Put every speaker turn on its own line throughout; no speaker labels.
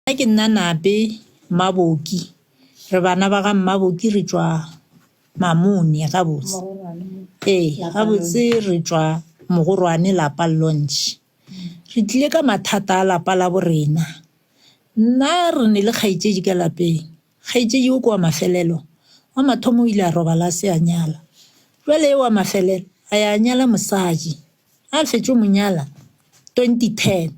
Nna ke nna Nape Mmaboki, re bana ba ga Mmaboki re tšwa Mamone gabotse. Ee, gabotse re tšwa Mogorwane lapa Launch. Re tlile ka mathata a lapa la bo rena. Nna re ne le kgaetšedi ka lapeng. Kgaetšedi o ke wa mafelelo, wa mathomo o ile a robala a se a nyala. Jwale e wa mafelelo a ya nyala mosadi. A fetše o mo nyala twenty ten.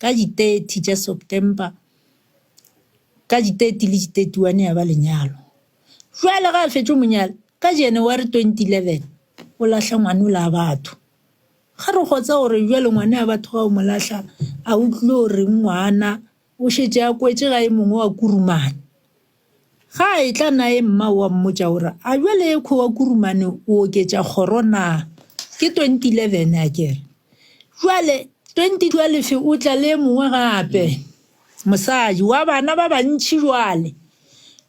Ka di 30 tša September, ka di 30 le di 31 ya ba lenyalo. Bjale ge a fetše mo nyala, ka January 2011 o lahla ngwana o la batho. Ga re kgotsa gore bjale ngwana ya batho ga o mo lahla, a o tlilo reng ngwana o šetše a kwetše ga e mongwe wa kurumane. Ga a etla naye mmao wa mmotša o re, A bjale ekho wa kurumane o oketša kgoro na? Ke 2011 a ke re. Bjale 2012 o tla le e mongwe gape, mosadi, wa bana ba bantši bjale.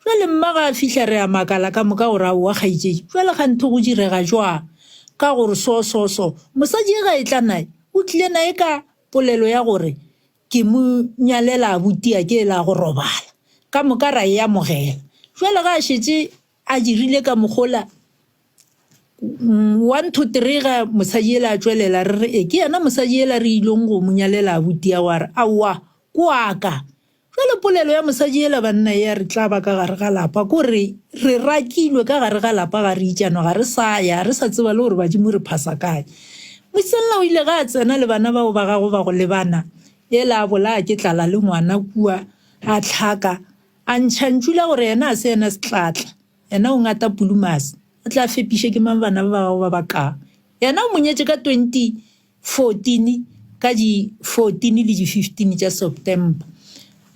Bjale mma ga a fihla re a makala ka moka, o re, Aowa, kgaetšedi, bjale kganthe go direga bjang? Ka gore so, so, so. Mosadi e ga etla naye, o tlile naye ka polelo ya gore, Ke mo nyalela abuti a ke la go robala. Ka moka ra e amogela. Jwale ga a šetše a dirile ka mogola one two three ga mosadi ela a tšwelela re re e ke yena mosadi ela re ilong go mo nyalela abuti ya wa re aowa ko aka. Jwale polelo ya mosadi ela banna ya re tla ba ka gare ga lapa ko re re rakilwe ka gare ga lapa ga re itšanwa ga re sa ya ga re sa tseba le gore badimo re phasa kae. Mosella o ile ge a tsena le bana bao ba gagwe ba go lebana, ela a bolaya ke tlala le ngwana kua, a hlaka, a ntšha ntšu la gore yena a se yena setlatla, yena o ngata pulumase, o tla fepiše ke mang bana ba ba gagwe ba ba ka. Yena o mo nyetše ka 2014 ka di 14 le di 15 tša September.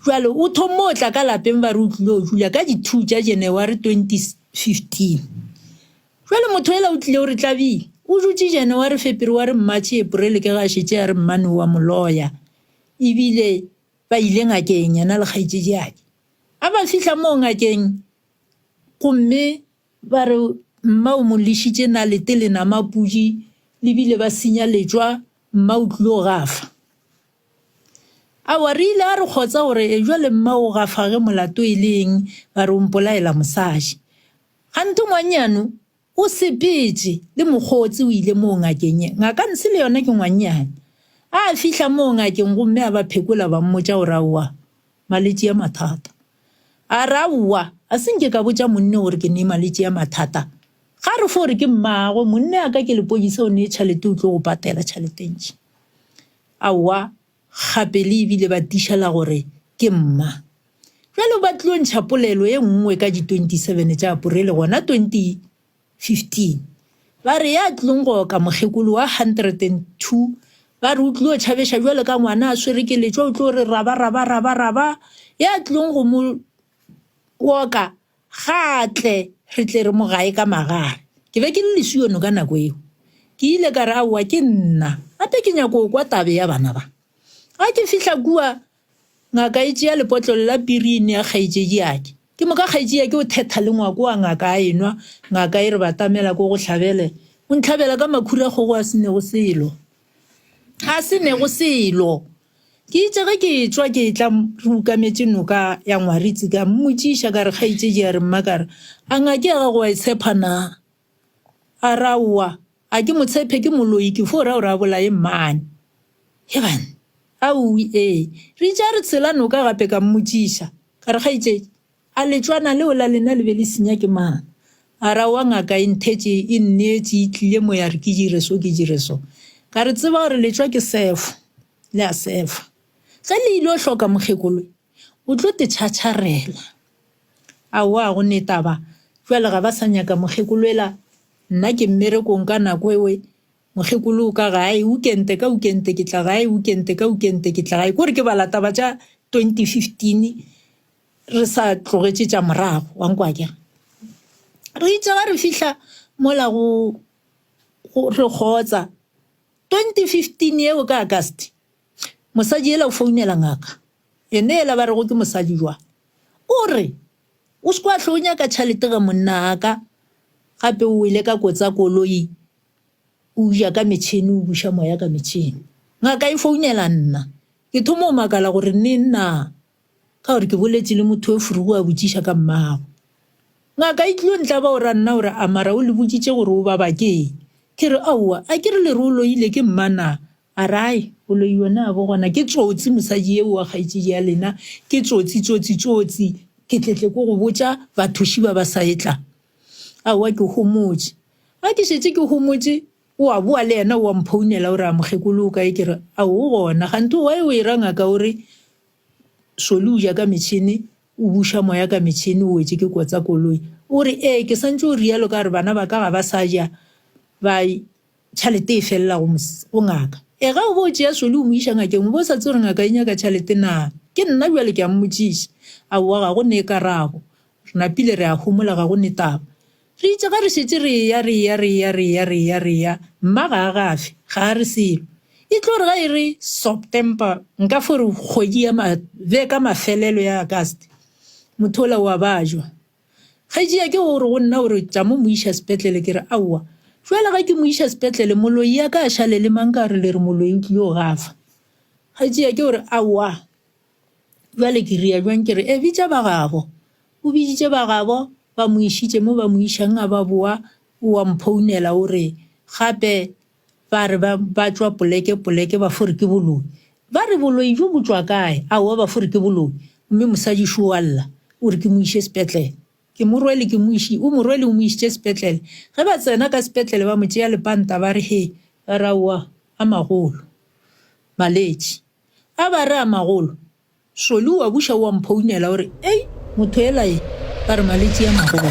Bjale o thommo o tla ka lapeng ba re o tlilo dula ka di 2 tša Janaware 2015. Bjale motho yela o tlile o re Tlabii, o dutše Janaware, Fepereware, Mmatšhe, Eporele ke ge a šetše a re mmane o a mo loya e bile ba ile ngakeng yena le kgaetšediadi. A ba fihla moo ngakeng gomme ba re mma o mo lešitše nalete le nama pudi le bile ba senya letšwa mma o tlile o gafa. Aowa re ile a re kgotsa gore e bjale mma o gafa ge molato e le eng ba re o mpolaela mosadi. Kganthe ngwannyano o sepetše le mokgotse o ile moo ngakeng ye. Ngaka Nsi le yona ke ngwannyane. A fihla moo ngakeng gomme a ba phekola ba mmotša gore aowa, malwetši a mathata. A re, Aowa, a se nke ka botša monne gore ke nee malwetši a mathata. Ga re fo gore ke mmagwe, monne a ka ke lepodisa o nee tšhalete o tlo go patela tšhalete ntši. Aowa. gape le ebile ba tiša la gore ke mma. Bjalo ba tlilo ntšha polelo e nngwe ka di 27 tša Apurele gona 2015, ba re ya tlilong go oka mokgekolo wa 102 ba re o tlilo tšhabeša bjalo ka ngwana a swere keletšwa o tlilo re raba-raba-raba-raba ya tlilong go mo oka Ga a tle, re tle re mo gaye ka magare. Ke be ke le lesiono ka nako yeo. Ke ile ka re, Aowa, ke nna. Gape ke nyako go kwa tabe ya bana ba. Ga ke fihla kua, ngaka e tšea lepotlolo la pirini ya kgaetšediake. Ke moka kgaetšediake o thetha le ngwako wa ngaka a enwa. Ngaka e re batamela ko go hlabele. O ntlhabela ka makhura kgogo a se nego selo. A se nego selo. Ke itše ge ke etšwa ke etla re ukametše noka ya Ngwaritse ka mmotšiša ka re, Kgaetšedi, a re, Mma, ka re, a ngake ya gago wa e tshepha na? A re, Aowa, a ke mo tshephe, ke moloi, ke fo ra gore a bolaye mmane. Hebann! Aowi, ee. Re itše a re tshela noka gape ka mmotšiša ka re, Kgaetšedi, A letšwana leo la lena le be le senya ke mang? A ra wa ngaka e nthetše, e nneetše, e tlile mo ya re ke dire so, ke dire so. Ka re tseba gore letšwa ke sefo, le a sefa. Ge le ile o hloka mokgekoloe, o tlo te tšhatšharela. Aowa, go ne taba, jwale ga ba sa nyaka mokgekoloela, nna ke mmerekong ka nako ewe, mokgekolo o ka gae, ukente ka ukente ke tla gae, ukente ka ukente ke tla gae. Ke gore ke bala taba tša 2015. re sa tlogetše tša morago wa nkwa ke re itše ga re fihla mola go re kgotsa 2015 yeo ka agast mosadi ela o founela ngaka ene ela ba rego ke mosadi jwa o re o se kwa tlho o nyaka tšhalete ga monna aka gape o ile ka kotsa koloi o ja ka metšhini o buša moya ka metšhini ngaka e founela nna ke thomo o makala gore ne nna Ka gore ke boletše le motho yo furugu a botšiša ka mmago. Ngaka e tlilo ntlaba o ra nna o re, A mara o le botšitše gore o baba ke eng? Ke re, Aowa, a ke re le re o loile ke mma na? A re, Ai, o loiwe na bo gona ke tsotsi mosadi yeo wa kgaetšedi ya lena, ke tsotsi, tsotsi, tsotsi, ke tletle ko go botša bathoši ba ba sa etla. Aowa ke homotše. Ga ke šetše ke homotše, o a boa le yena o a mphounela o re, A mokgekolo o kae? Ke re, Ao o gona. Kganthe o wa e o e ra ngaka o re, Šoli o ja ka metšhene, o buša moya ka metšhene, o wetše ke kotsa koloi. O re, Ee, ke swantše go rialo ka gore bana ba ka ga ba sa ja, ba tšhalete e felela go ngaka. Ee, ge o bo o tšea Šoli o mo iša ngakeng, o bo o sa tsebe gore ngaka e nyaka tšhalete naa? Ke nna bjale ke a mmotšiša. Aowa, ga go ne karabo. Re napile re a homola, ga go netaba. Re itše ge re šetše re eya, re eya, re eya, re eya, re eya, re eya, Mma ga a gafe, ga a re selo. E tlo re ge e re Soptemper, nka fo re kgwedi ya ma, be ka mafelelo ya Auguste, motho wola o a bajwa. Kgetšia ke go re go nna, o re, Tša mo mo iša sepetlele. Ke re, Aowa. Bjale ge ke mo iša sepetlele, moloi a ka a šale le mang ka re le re moloi o tlile go gafa. Kgetšia ke go re, Aowa. Bjale ke ria bjang ke re, E, bitša ba gabo. O biditše ba gabo, ba mo išitše mo ba mo išang, a ba boa, o a mphounela o re, Gape ba re ba, ba tšwa poleke, poleke, ba fo re ke boloi. Ba re, Boloi bjo bo tšwa kae? Aowa, ba fo re ke boloi. Gomme mosadi šo o a lla, o re ke mo iše sepetlele. Ke mo rwele, ke mo iši, o mo rwele o mo išitše sepetlele. Ge ba tsena ka sepetlele, ba mo tšea lepanta ba re, He, ba re, Aowa, a magolo, maletši. A ba re a magolo. Soli o a buša o a mphounela o re, Ei, motho ela ye, ba re malwetši a magolo.